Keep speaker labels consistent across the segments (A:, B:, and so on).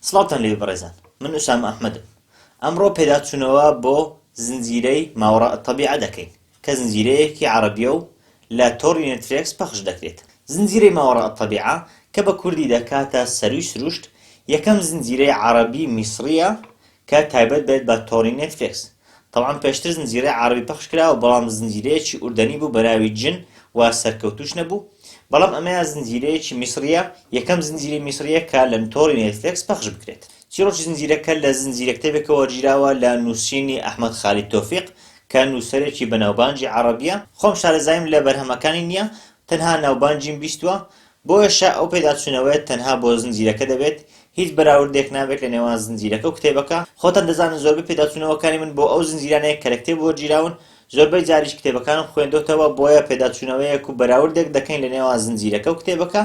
A: سڵاوتان لێبێ بەڕێزان من ئوسامە ئەحمەدم ئەمڕۆ پێداچونەوە بۆ زنجیرەی ماوەڕاء الطبیعە دەکەین کە زنجیرەیەکی عەڕەبیە و لە تۆڕی نێتفرێکس پەخش دەکرێت زنجیرەی ماوەڕاء الطبیعە کە بە کوردی دەکاتە سەرووی سروشت یەکەم زنجیرەی عەڕەبی میسڕیە کە تایبەت بێت بە تۆڕی نێتفێکس تەبعەن پێشتر زنجیرەی عەڕەبی پەخش کراوە بەڵام زنجیرەیەکی ئوردەنی بوو بەناوی جن و سەرکەوتوش نەبوو بەڵام ئەمەیان زنجیرەیەکی میسڕیە یەکەم زنجیرەی میسڕیە کە لە تۆڕی نێتفێکس پەخش بکرێت چیڕۆکی زنجیرەکە لە زنجیرە کتێبێکە وەرگیراوە لە نوسینی ئەحمەد خالید تۆفیق کە نوسەرێکی بەناوبانگی عەڕەبیە خۆم شارەزاییم لە بەرهەمەکانی نیە تەنها ناوبانگیم بیستوە بۆیەشە ئەو پێداچوونەوەیەت تەنها بۆ زنجیرەکە دەبێت، هیچ بەراوردێک نابێت لە نێوان زنجیرەکە و کتێبەکە، خۆتان دەزانن زۆربەی پێداچوونەوەکانی من بۆ ئەو زنجیرانەیە کە لە کتێب وەرگیراون، زۆربەی جاریش کتێبەکانم خوێندۆتەوە، بۆیە پێداچوونەوەیەک و بەراوردێک دەکەین لە نێوان زنجیرەکە و کتێبەکە،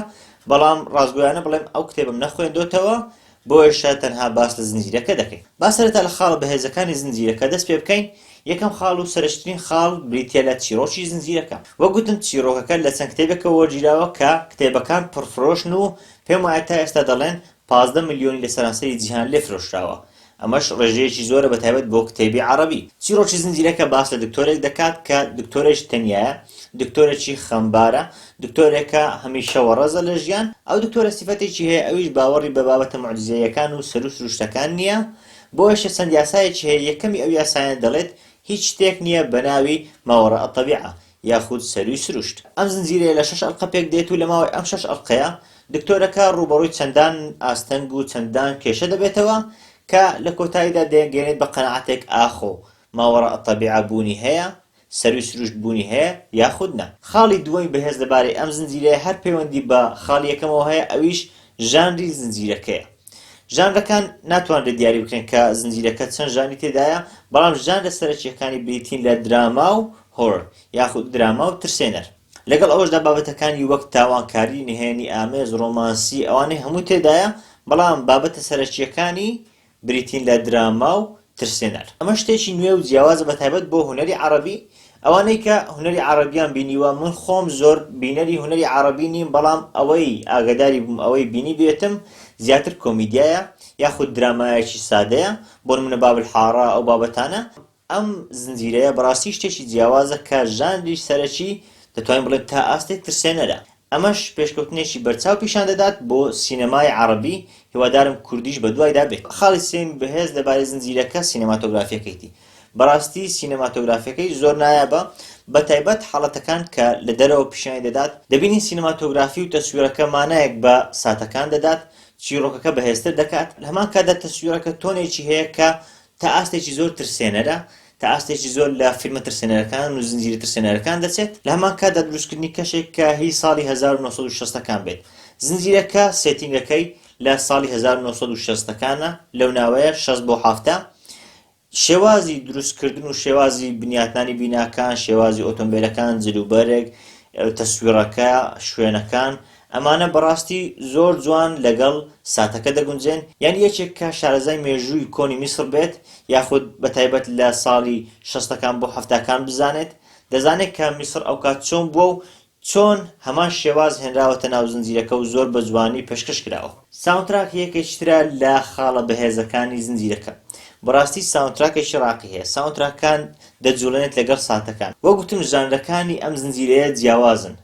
A: بەڵام ڕاستگۆیانە بڵێم ئەو کتێبەم نەخوێندۆتەوە، بۆیەشە تەنها باس لە زنجیرەکە دەکەین. با سەرەتا لە خاڵە بەهێزەکانی زنجیرەکە دەست پێ بکەین، یەکەم خاڵ و سەرەکیترین خاڵ بریتیە لە چیڕۆکی زنجیرەکە. وەک گوتم چیڕۆکەکە لە چەند کتێبێکەوە وەرگیراوە کە کتێبەکان پڕفرۆشن و پێم وایە تا ئێستا دەڵێن پازدە ملیۆنی لە سەرانسەری جیهان لێ فرۆشراوە، ئەمەش ڕێژەیەکی زۆرە بە تایبەت بۆ کتێبی عەڕەبی. چیڕۆکی زنجیرەکە باس لە دکتۆرێک دەکات کە دکتۆرێکی تەنیایە، دکتۆرێکی خەمبارە، دکتۆرێکە هەمیشە وەڕەزە لە ژیان، ئەو دکتۆرە سیفەتێکی هەیە ئەویش باوەڕی بە بابەتە موعجیزەییەکان و سەروو سروشتەکان نییە، بۆیەشە چەند یاسایەکی هەیە یەکەمی ئەو یاسایانە دەڵێت هیچ شتێک نییە بەناوی ماوەڕاء الطبیعە یاخود سەرووی سروشت. ئەم زنجیرەیە لە شەش ئەڵقە پێک دێت و لە ماوەی ئەم شەش ئەڵقەیە دکتۆرەکە ڕووبەڕووی چەندان ئاستەنگ و چەندان کێشە دەبێتەوە کە لە کۆتاییدا دەیانگەیەنێت بە قەناعەتێک ئاخۆ ماوەڕاء الطبیعە بوونی هەیە سەرووی سروشت بوونی هەیە یاخود نا. خاڵی دووەمی بەهێز لەبارەی ئەم زنجیرەیە هەر پەیوەندی بە خاڵی یەکەمەوە هەیە ئەویش ژانری زنجیرەکەیە. ژانرەکان ناتوانرێت دیاری بکرێن کە زنجیرەکە چەند ژانری تێدایە، بەڵام ژانرە سەرەکییەکانی بریتین لە دراما و هۆرۆر یاخود دراما و ترسێنەر. لەگەڵ ئەوەشدا بابەتەکانی وەک تاوانکاری، نهێنی ئامێز، ڕۆمانسی ئەوانەی هەموو تێدایە، بەڵام بابەتە سەرەکییەکانی، بریتین لە دراما و ترسێنەر. ئەمە شتێکی نوێ و جیاوازە بە تایبەت بۆ هونەری عەڕەبی، ئەوانەی کە هونەری عەڕەبیان بینیوە، من خۆم زۆر بینەری هونەری عەڕەبی نیم بەڵام ئەوەی ئاگەداری بووم ئەوەی بینیبێتم زیاتر کۆمیدیایە یاخود درامایەکی سادەیە بۆ نمونە باب الحارە ئەو بابەتانە، ئەم زنجیرەیە بەڕاستی شتێکی جیاوازە کە ژانری سەرەکی دەتوانین بڵێین تا ئاستێک ترسێنەرە، ئەمەش پێشکەوتنێکی بەرچاو پیشان دەدات بۆ سینەمای عەڕەبی، هیوادارم کوردیش بەدوایدا بێت. خالید سلیم بەهێز لەبارەی زنجیرەکە سینەماتۆگرافیەکەیتی بەڕاستی سینەماتۆگرافیەکەی زۆر نایابە بە تایبەت حاڵەتەکان کە لە دەرەوە پیشانی دەدات دەبینین سینەماتۆگرافی و تەسویڕەکە مانایەک بە ساتەکان دەدات چیڕۆکەکە بەهێزتر دەکات لە هەمان کاتدا تەسویڕەکە تۆنێکی هەیە کە تا ئاستێکی زۆر ترسێنەرە، تا ئاستێکی زۆر لە فیلمە ترسێنەرەکان و زنجیرە ترسێنەرەکان دەچێت، لە هەمان کاتدا دروستکردنی کەشێک کە هی ساڵی هەزار و نۆ سەد و شەست ەکان بێت، زنجیرەکە سێتینگەکەی لە ساڵی هەزار و نۆ سەد و شەست ەکانە، لەو ناوەیە، شەست بۆ حەفتا، شێوازی دروستکردن و شێوازی بنیاتنانی بیناکان، شێوازی ئۆتۆمبێلەکان، جلوبەرگ، تەسویڕەکە، شوێنەکان، ئەمانە بەڕاستی زۆر جوان لەگەڵ ساتەکە دەگونجێن، یان یەکێک کە شارەزای مێژووی کۆنی میسڕ بێت، یاخود بەتایبەت لە ساڵی شەستەکان بۆ حەفتاکان بزانێت، دەزانێت کە میسڕ ئەوکات چۆن بووە و چۆن هەمان شێواز هێنراوەتە ناو زنجیرەکە و زۆر بە جوانی پێشکەش کراوە. ساوندتراک یەکێکی ترە لە خاڵە بەهێزەکانی زنجیرەکە. بەڕاستی ساوندتراکێکی ڕاقی هەیە، ساوندتراکەکان دەجوڵێنێت لەگەڵ ساتەکان. وەک گوتم ژانرەکانی ئەم زنجیرەیە جیاوازن،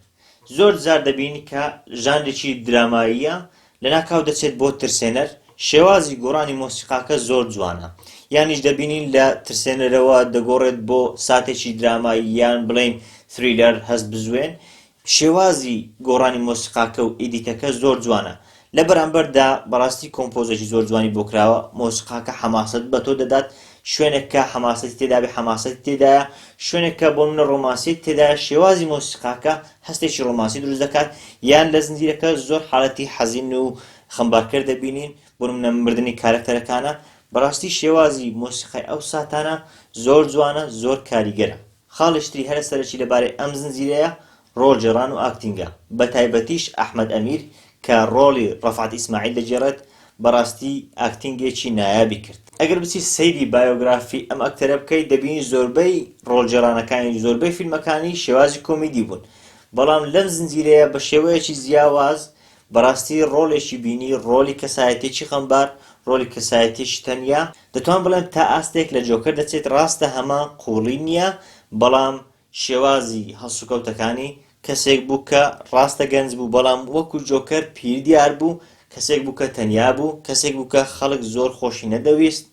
A: زۆر جار دەبینین کە ژانرێکی دراماییە لەناکاو دەچێت بۆ ترسێنەر، شێوازی گۆڕانی مۆسیقاکە زۆر جوانە، یانیش دەبینین لە ترسێنەرەوە دەگۆڕێت بۆ ساتێکی درامایی یان بڵێین ثریلەر، هەستبزوێن، شێوازی گۆڕانی مۆسیقاکە و ئیدیتەکە زۆر جوانە، لە بەرامبەردا بەڕاستی کۆمپۆزێکی زۆر جوانی بۆ کراوە مۆسیقاکە حەماسەت بە تۆ دەدات شوێنێک کە حەماسەتی تێدابێ حەماسەتی تێدایە شوێنێک کە بۆ منە ڕۆمانسیت تێدایە شێوازی مۆسیقاکە هەستێکی ڕۆمانسی دروست دەکات یان لە زنجیرەکە زۆر حالەتی حەزین و خەمبارکەر دەبینین بۆ منە مردنی کارکتەرەکانە بەڕاستی شێوازی مۆسیقای ئەو ساتانە زۆر جوانە زۆر کاریگەرە خاڵیشتری هەرە سەرەکی لەبارەی ئەم زنجیرەیە ڕۆڵ گێڕان و ئاکتینگە بە تایبەتیش ئەحمەد ئەمیر کە ڕۆڵی ڕەفعەت ئیسماعیل دەگێڕێت بەڕاستی ئاکتینگێکی نایابی کرد. ئەگەر بچیت سەیری بایۆگرافی ئەم ئەکتەرە بکەیت دەبینی زۆربەی ڕۆڵ گێڕانەکانی و زۆربەی فیلمەکانی شێوازی کۆمیدی بوون بەڵام لەم زنجیرەیە بە شێوەیەکی جیاواز بەڕاستی ڕۆڵێکی بینی ڕۆڵی کەسایەتیەکی خەمبار ڕۆڵی کەسایەتیەکی تەنیا دەتوان بڵێم تا ئاستێک لە جۆکەر دەچێت ڕاستە هەمان قوڵی نیە بەڵام شێوازی هەڵسوکەوتەکانی کەسێک بوو کە ڕاستە گەنج بوو بەڵام وەکو جۆکەر پیر دیار بوو، کەسێک بوو کە تەنیا بوو، کەسێک بوو کە خەڵک زۆر خۆشی نەدەویست،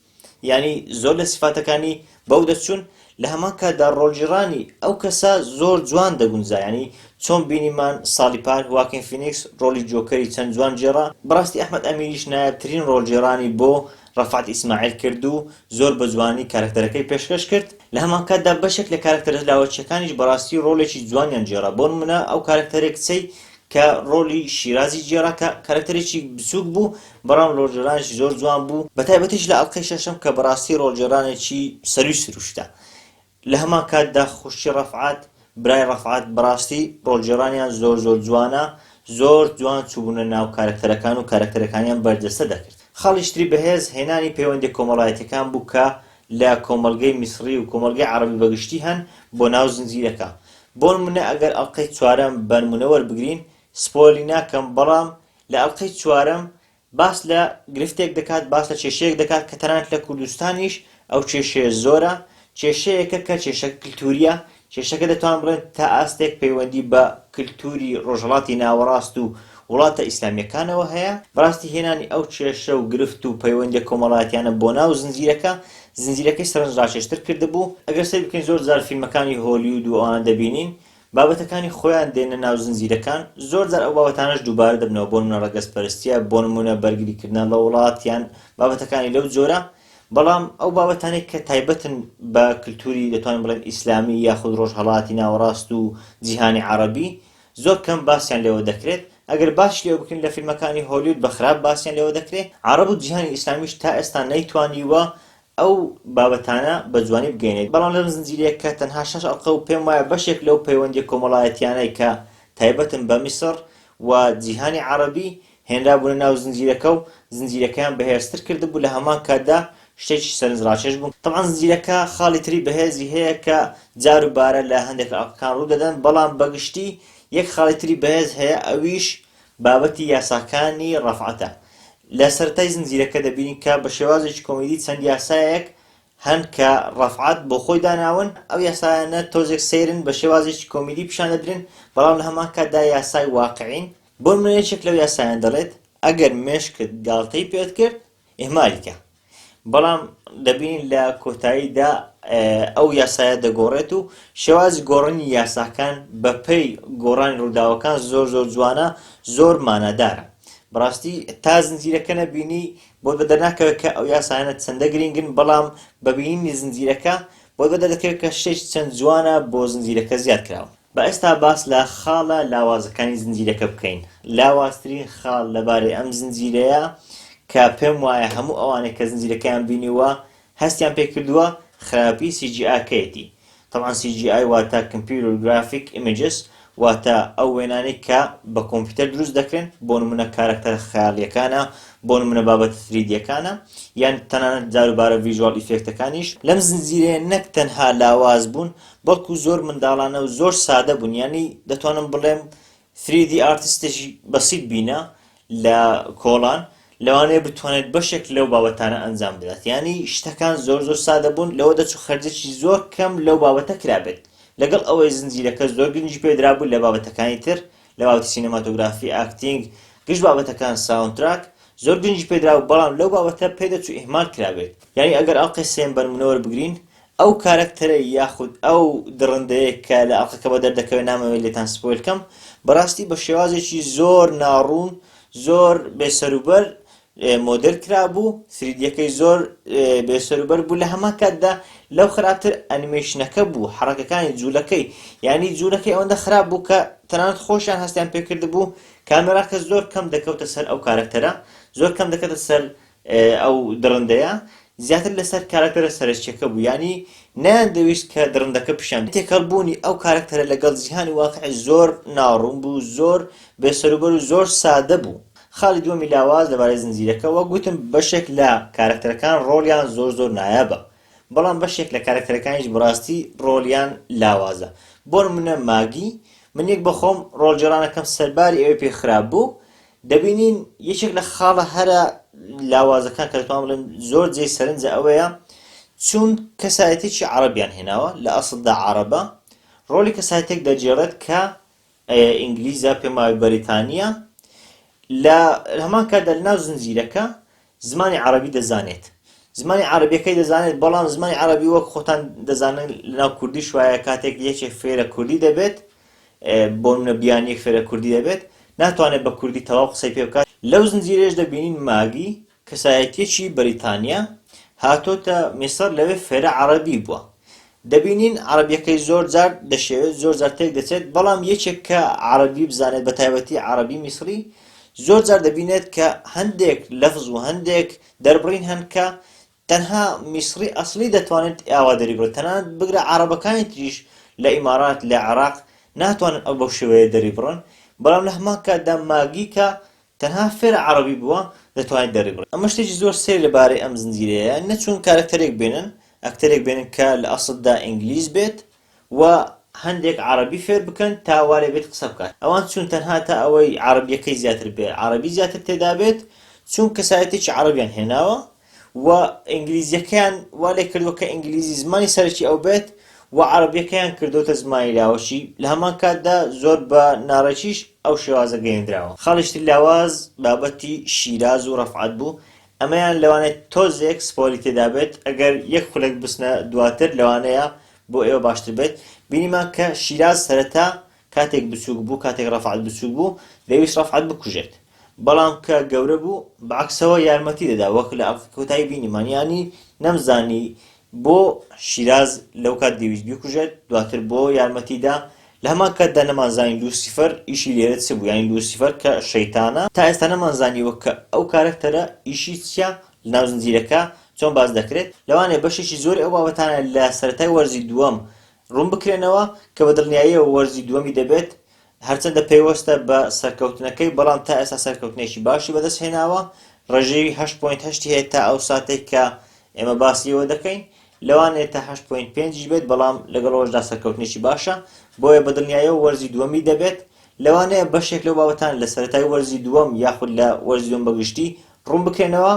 A: یانی زۆر لە سیفاتەکانی بەو دەچوون، لە هەمان کاتدا ڕۆڵگیڕانی ئەو کەسە زۆر جوان دەگونجا، یانی چۆن بینیمان ساڵی پار هواکین فینیکس ڕۆڵی جۆکەری چەند جوان گێڕا، بەڕاستی ئەحمەد ئەمیریش نایابترین ڕۆڵگێڕانی بۆ رەفعەت ئیسماعیل کرد و زۆر بە جوانی کارەکتەرەکەی پێشکەش کرد، لە هەمانکاتدا بەشێک لە کارەکتەرە لاوەکییەکانیش بەڕاستی رۆڵێکی جوانیان گێڕا، بۆ نموونە ئەو کارەکتەرەی کچەی کە رۆڵی شیرازی گێڕا کە کارەکتەرێکی بچووک بوو، بەڵام رۆڵگێڕانێکی زۆر جوان بوو، بەتایبەتیش لە ئەڵقەی شەشەم کە بەڕاستی رۆڵگێڕانێکی سەرووی سرووشتە، لە هەمان کاتدا خوشکی ڕەفعات برای ڕەفعات بەڕاستی ڕۆڵگێڕانیان زۆر زۆر جوانە زۆر جوان چوبونە ناو کارەکتەرەکان و کارەکتەرەکانیان بەرجەستە دەکرد خاڵی شتری بەهێز هێنانی پەیوەندیە کۆمەڵایەتیەکان بوو کە لە کۆمەڵگەی میسڕی و کۆمەڵگەی عەڕەبی بەگشتی هەن بۆ ناو زنجیرەکە بۆنمونە ئەگەر ئەڵقەی چوارەم بەنمونە وەربگرین سپۆیڵی ناکەم بەڵام لە ئەڵقەی چوارەم باس لە گرفتێک دەکات باس لە کێشەیەک دەکات کە تەنانەت لە کوردستانیش ئەو کێشەیە زۆرە کێشەیەکە کە کێشەکە کللتوریە کێشەکە دەتوان بڵێن تا ئاستێک پەیوەندی بە کللتوری ڕۆژهڵاتی ناوەڕاست و وڵاتە ئیسلامیەکانەوە هەیە بەڕاستی هێنانی ئەو کێشە و گرفت و پەیوەندی کۆمەڵاتیانە بۆ ناو زنجیرەکە زنجیرەکەی سەرنج ڕاکێشتر کردبوو ئەگەر سەر بکەین زۆر جار فیلمەکانی هۆلیود و ئەوان دەبینین بابەتەکانی خۆیان دێنە ناو زنجیرەکان، زۆر جار ئەو بابەتانەش دووبارە دەبنەوە بۆ نمونە ڕەگەزپەرستیە بۆ نمونە بەرگری کردنە ڵە وڵات یان بابەتەکانی لەو جۆرە بەڵام ئەو بابەتانەی کە تایبەتن بە کلتوری دەتوانین بڵێن ئیسلامی یاخود ڕۆژهەڵاتی ناوەڕاست و جیهانی عەڕەبی زۆر کەم باسیان لێوە دەکرێت ئەگەر باش لێوە بکرێن لە فیلمەکانی هۆلیود بە خراپ باسیان لێوە دەکرێ عەڕەب و جیهانی ئیسلامیش تا ئێستا نەیتوانیوە ئەو بابەتانە بە جوانی بگەینێت، بەڵام لەم زنجیرەیە کە تەنها شەش ئەڵقە و پێم وایە بەشێک لەو پەیوەندیە کۆمەڵایەتیانەی کە تایبەتن بە میسڕ و جیهانی عەڕەبی هێنرابوونە ناو زنجیرەکە و زنجیرەکەیان بەهێزتر کردبوو لە هەمان کاتدا شتێکی سەرنج ڕاکێش بوو تەبعەن زنجیرەکە خاڵی تری بەهێزی هەیە کە جار و بارە لە هەندێک لە ئەڵقەکان ڕوو دەدەن بەڵام بە گشتی یەک خاڵی تری بەهێز هەیە ئەویش بابەتی یاساکانی ڕەفعەتە. لە سەرەتای زنجیرەکە دەبینین کە بە شێوازێکی کۆمیدی چەند یاسایەک هەن کە ڕەفعەت بۆ خۆی داناون، ئەو یاسایانە تۆزێک سەیرن بە شێوازێکی کۆمیدی پیشان دەدرێن، بەڵام لە هەمان کاتدا یاسای واقعین، بۆ نمونە یەکێک لەو یاسایانە دەڵێت، ئەگەر مێشکت گاڵتەی پێت کرد ئیهمالی کە، بەڵام دەبینین لە کۆتاییدا ئەو یاسایە دەگۆڕێت و شێوازی گۆڕنی یاساکان بەپەی گۆڕانی ڕووداوەکان زۆر زۆر جوانە زۆر مانادارە بڕاستی تا زنجیرەکە نەبینی بۆ بە دەرناکەوێت کە ئەو یاسایانە چەندە گرنگن بەڵام بەبینی زنجیرەکە بۆ بە دەردەکەوێت کە شتێک چەند جوانە بۆ زنجیرەکە زیاد کراوە با ئێستا باس لە خاڵە لاوازەکانی زنجیرەکە بکەین، لاوازترین خاڵ لەبارەی ئەم زنجیرەیە کە پێم وایە هەموو ئەوانەی کە زنجیرەکەیان بینیووە هەستیان پێ کردووە خراپی سی جی ئاکەیەتی تەبعەن سی جی ئای واتە کمپیوتەر گرافیک ئیمێجس واتە ئەو وێنانەی کە بە کۆمپیوتەر دروست دەکرێن بۆ نموونە کارەکتەرە خەیاڵییەکانە بۆ نموونە بابەتە سریدییەکانە یان تەنانەت جاروبارە ڤیژوال ئیفێکتەکانیش لەم زنجیرەیە نەک تەنها لاواز بوون بەڵکو زۆر منداڵانە و زۆر سادە بوون یانی دەتوانم بڵێم ثری دی ئارتستێکی بەسیت بینە لە کۆڵان لەوانەیە بتوانێت بەشێک لەو بابەتانە ئەنجام بدات یانی شتەکان زۆر زۆر سادە بوون لەوە دەچوو خەرجێکی زۆر کەم لەو بابەتە کرابێت لەگەڵ ئەوەی زنجیرەکە زۆر گرنگی پێدرابوو لە بابەتەکانی تر لە باوەتی سینەماتۆگرافی ئاکتینگ گشت بابەتەکان ساوندتراک زۆر گرنگی پێدرا و بەڵام لەو بابەتە پێدەچوو ئیهمال کرابێت یانی ئەگەر ئەڵقەی سێم بەرمونەوەر بگرین ئەو کارەکتەرە یاخود ئەو دڕندەیە کە لە ئەڵقەکەوە دەردەکەوێت نامەوێت لێتان سپۆیل کەم بەڕاستی بە شێوازێکی زۆر ناڕوون زۆر بێ سەروبەر مۆدل کرابوو سریدیەکەی زۆر بێ سەروبەر بوو لە هەمان کاتدا لەو خراپتر ئەنیمێشنەکە بوو حڕەکەکانی جوولەکەی یعنی جوولەکەی ئەوەندە خراپ بوو کە تەنانەت خۆشیان هەستیان پێکرد بوو کامێراکە زۆر کەم دەکەوتە سەر ئەو کارەکتەرە زۆر کەم دەکەتە سەر ئەو دڕندەیە زیاتر لەسەر کارەکتەرە سەرەکیەکە بوو یانی نەیاندەویست کە دڕندەکە پیشان بدەن تێکەڵ بوونی ئەو کارەکتەرە لەگەڵ جیهانی واقعی زۆر ناڕوون بوو زۆر بێ سەروبەر و زۆر سادە بوو خاڵی دووەمی لاواز لەبارەی زنجیرەکە وەک گوتم بەشێک لە کارەکتەرەکان ڕۆڵیان زۆر زۆر نایابە بەڵام بەشێک لە کارەکتەرەکانیش بەڕاستی ڕۆڵیان لاوازە بۆ نمونە ماگی من یەک بەخۆم ڕۆڵگێڕانەکەم سەرباری ئەوەی پێ خراپ بوو دەبینین یەکێک لە خاڵە هەرە لاوازەکان کە دەتوان بڵێن زۆر جێ سەرنجە ئەوەیە چون کەسایەتێکی عربیان هێناوە لە ئەسڵدا عربە ڕۆلی کەسایەتێک دەجێڕێت کە ئینگلیزە پێماوی بەریتانیا لە هەمان کاتدا لەناو زنجیرەکە زمانی عەڕەبی دەزانێت. زمانی عەڕەبیەکەی دەزانێت بەڵام زمانی عەڕەبی وەک خۆتان دەزانن لەناو کوردیش وایە کاتێک یەکێک فێرە کوردی دەبێت بۆ نمونە بیانیەک فێرە کوردی دەبێت ناتوانێت بە کوردی تەواو قسەی پێ بکات لەو زنجیرەیەش دەبینین ماگی کەسایەتیەکی بەریتانیە هاتۆتە میسڕ لەوێ فێرە عەڕەبی بوە دەبینین عەڕەبیەکەی زۆر جار دەشێوێت زۆر جار تێک دەچێت بەڵام یەکێک کە عەڕەبی بزانێت بە تایبەتی عەڕەبی میسڕی زۆر جار دەبینێت کە هەندێک لەفز و هەندێک دەربڕین هەن کە تەنها میسڕی ئەسڵی دەتوانێت ئاوا دەریبڕێت تەنانەت بگرە عەڕەبەکانی تریش لە ئیمارات لە عێراق ناتوانن ئەو بەو شێوەیە دەریبڕن بەڵام لە هەمان کاتدا ماگیکە تەنها فێرە عەڕەبی بووە دەتوانێت دەریبڕێت ئەمە شتێکی زۆر سەیر لە بارەی ئەم زنجیرەیە نەچوون کارەکتەرێک بێنن ئەکتەرێک بێنن کە لە ئەسڵدا ئینگلیز بێت و هەندێک عەڕەبی فێر بکەن تا وا لێ بێت قسە بکات ئەوان چوون تەنها تا ئەوەی عەڕەبیەکەی زیاتر بێت عەڕەبی زیاتر تێدا بێت چوون کەسایەتێکی عەڕەبیان هێناوە و ئینگلیزیەکەیان وا لێ کردووە کە ئینگلیزی زمانی سەرەکی ئەو بێت و عەرەبیەکەیان کردوتە زمانی لاوەکی لە هەمان کاتدا زۆر بە ناڕێکیش ئەو شێوازە گەیەندراوە خاڵیش تر لاواز بابەتی شیراز و ڕەفعەت بوو ئەمەیان لەوانێت تۆزێک سپۆری تێدا بێت ئەگەر یەک خولەک بچنە دواتر لەوانەیە بۆ ئێوە باشتر بێت بینیمان کە شیراز سەرەتا کاتێک بچوک بوو کاتێک رەفعەت بچوک بوو دەیویست رەفعەت بکوژێت بەڵام کە گەورە بوو بەعەکسەوە یارمەتی دەدا وەک لە ئەڵقەی کۆتایی بینیمان یانی نەمزانی بۆ شیراز لەو کات دەیویست بیکوژێت دواتر بۆ یارمەتی دا لە هەمان کاتدا نەمانزانی لوسیفەر ئیشی لێرە چ بوو یانی لوسیفەر کە شەیتانە تا ئێستا نەمانزانیوە کە ئەو کارەکتەرە ئیشی چییە لەناو زنجیرەکە چۆن باس دەکرێت لەوانەیە بەشێکی زۆری ئەو بابەتانە لە سەرەتای وەرزی دووەم ڕوونبکرێنەوە، کە بە دڵنیاییەوە وەرزی دووەمی دەبێت، هەرچەندە پەیوەستە بە سەرکەوتنەکەی، بەڵام تا ئێستا سەرکەوتنێکی باشی بەدەستهێناوە، ڕێژەی هەشت پۆینت هەشتی هەیە تا ئەو ساتەی کە ئێمە باسی لێوە دەکەین، لەوانەیە تا هەشت پۆینت پێنجیش بێت، بەڵام لەگەڵ ئەوەشدا سەرکەوتنێکی باشە، بۆیە بە دڵنیاییەوە وەرزی دووەمی دەبێت، لەوانەیە بەشێک لەو بابەتانە لە سەرەتای وەرزی دووەم یاخود لە وەرزی دووەم بەگشتی ڕوونبکرێنەوە،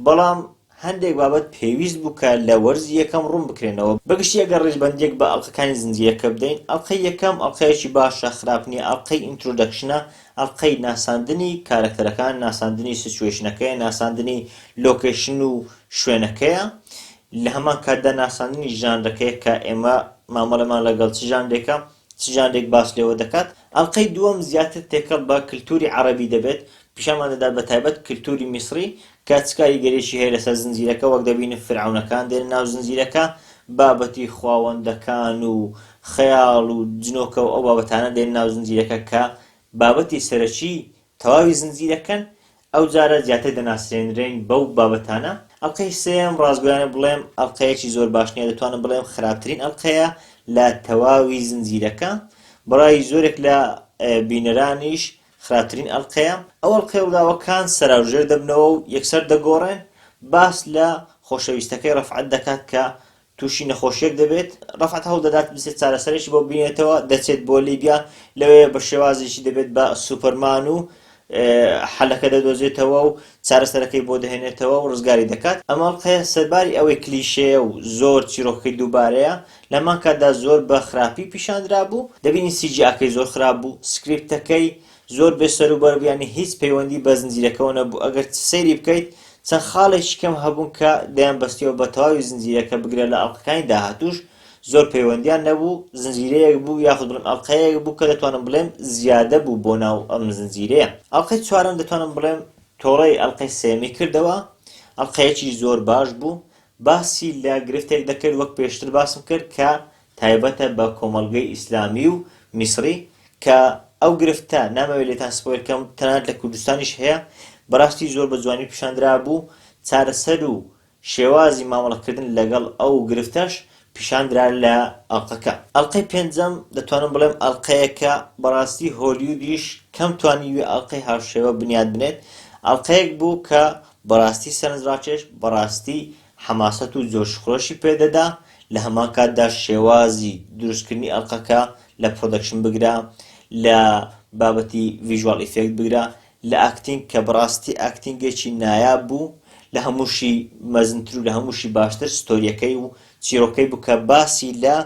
A: بەڵام هەندێک بابەت پێویست بوو کە لە وەرزی یەکەم ڕوون بکرێنەوە، بەگشتی ئەگەر ڕیزبەندییەک بە ئەڵقەکانی زنجیرەکە بدەین، ئەڵقەی یەکەم ئەڵقەیەکی باشە، خراپ نییە، ئەڵقەی ئینترۆدەکشنە، ئەڵقەی ناساندنی کارەکتەرەکان، ناساندنی سیتوەیشنەکەیە، ناساندنی لۆکەیشن و شوێنەکەیە، لە هەمان کاتدا ناساندنی ژانرەکەیە کە ئێمە مامەڵەمان لەگەڵ چ ژانرێکە، چ ژانرێک باس لێوە دەکات، ئەڵقەی دووەم زیاتر تێکەڵ بە کلتووری عەڕەبی دەبێت، پیشانمان دەدات بەتایبەت کلتووری میسڕی کە چ کاریگەریەکی هەیە لەسەر زنجیرەکە وەک دەبینن فیرعەونەکان دێنە ناو زنجیرەکە بابەتی خواوەندەکان و خەیاڵ و جنۆکە و ئەو بابەتانە دێنە ناو زنجیرەکە کە بابەتی سەرەکی تەواوی زنجیرەکەن ئەو جارە زیاتر دەناسرێنرێن بەو بابەتانە ئەڵقەی سێم ڕاستگۆیانە بڵێم ئەڵقەیەکی زۆر باش نیە دەتوانم بڵێم خراپترین ئەڵقەیە لە تەواوی زنجیرەکە بەڕای زۆرێک لە بینەرانیش خراپترین ئەڵقەیە، ئەو ئەڵقەی رووداوە کان سەراو ژێر دەبنەوە و یەکسەر دەگۆڕێن، باس لە خۆشەویستەکەی رەفعەت دەکات کە تووشی نەخۆشیەک دەبێت، رەفعەت هەوڵدەدات بچێت چارەسەرێکی بۆ بینێتەوە، دەچێت بۆ لیبیا لەوێ بە شێوازێکی دەبێت بە سوپەرمان و حەلەکە دەدۆزێتەوە و چارەسەرەکەی بۆ دەهێنێتەوە و رزگاری دەکات، ئەم ئەڵقەیە سەرباری ئەوەی کلیشەیە و زۆر چیرۆکەکەی دووبارەیە لەهەمان کاتدا زۆر بە خراپی پیشاندرابوو دەبینین سی جی ئاکەی زۆر خراپ بوو سکریپتەکەی زۆر بێ سەرو بەربوو یانی هیچ پەیوەندی بە زنجیرەکەوە نەبوو ئەگەر سەیری بکەیت چەند خاڵێکی کەم هەبوون کە دەیان بەستیەوە بە تەواوی زنجیرەکە بگرە لە ئەڵقەکانی داهاتووش زۆر پەیوەندیان نەبوو زنجیرەیەک بوو یاخود بڵێم ئەڵقەیەک بوو کە دەتوانم بڵێم زیادە بوو بۆ ناو ئەم زنجیرەیە ئەڵلقەی چوارەم دەتوانم بڵێم تۆڵەی ئەڵلقەی سێمی کردەوە ئەڵلقەیەکی زۆر باش بوو باسی لە گرفتێک دەکرد وەک پێشتر باسم کرد کە تایبەتە بە کۆمەڵگەی ئیسلامی و میسری کە ئەو گرفتە نامەوێت لێتان سپۆیل کەم تەنانەت لە کوردستانیش هەیە بەڕاستی زۆر بە جوانی پیشاندرا بوو چارەسەر و شێوازی مامەڵەکردن لەگەڵ ئەو گرفتەش پیشاندرا لە ئەڵقەکە ئەڵقەی پێنجەم دەتوانم بڵێم ئەڵقەیەکە بەڕاستی هۆلیودیش کەم توانی وێ ئەڵقەی هاوشێوە بنیات بنێت ئەڵقەیەک بوو کە بەڕاستی سەرنجڕاکێش، بەڕاستی حەماسەت و جۆشوخرۆشی پێدەدا، لە هەمان کاتدا شێوازی دروستکردنی ئەڵقەکە لە پڕۆدەکشن بگرە، لە بابەتی ڤیژواڵ ئیفێکت بگرە، لە ئاکتینگ کە بەڕاستی ئاکتینگێکی نایاب بوو، لە هەمووشی مەزنتر و لە هەمووشی باشتر ستۆرییەکەی و چیڕۆکەی بوو کە باسی لە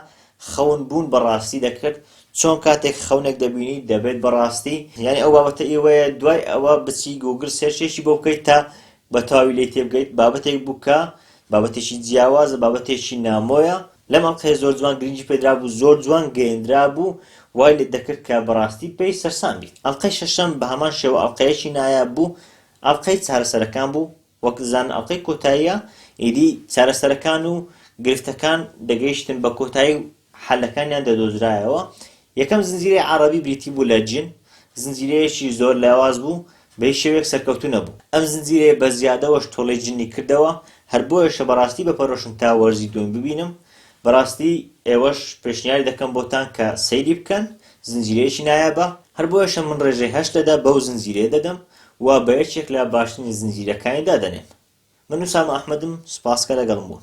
A: خەون بوون بە ڕاستی دەکرد چۆن کاتێک خەونێک دەبینی دەبێت بە ڕاستی یانی ئەو بابەتە ئیوەیە دوای ئەوە بچی گوگل سێرچێکی بۆ بکەیت تا بە تەواوی لێی تێبگەیت بابەتێک بوو کە بابەتێکی جیاوازە بابەتێکی نامۆیە لەم ئەڵقەیە زۆر جوان گرنگی پێدرا بوو زۆر جوان گەیەندرا بوو وای لێت دەکرد کە بەڕاستی پێی سەرسام بیت ئەڵقەی شەشەم بە هەمان شێوە ئەڵقەیەکی نایاب بوو ئەڵقەی چارەسەرەکان بوو وەک زان ئەڵقەی کۆتاییە ئیدی چارەسەرەکان و گرفتەکان دەگەیشتن بە کۆتایی و حەلەکانیان دەدۆزرایەوە یەکەم زنجیرەی عەڕەبی بریتی بوو لە جن زنجیرەیەکی زۆر لاواز بوو بە هیچ شێوەیەک سەرکەوتوو نەبوو ئەم زنجیرەیە بە زیادەوەش تۆڵەی جنی کردەوە هەر بۆیەشە بەڕاستی بە پەرۆشم تا وەرزی دووەم ببینم بەڕاستی ئێوەش پێشنیاری دەکەم بۆتان کە سەیری بکەن زنجیرەیەکی نایابە هەر بۆیەشە من ڕێژەی هەشت لەدە بەو زنجیرەیە دەدەم و بە یەکێک لە باشترین زنجیرەکانی دادەنێم من ئوسامە ئەحمەدم سوپاس کە لەگەڵم بوون.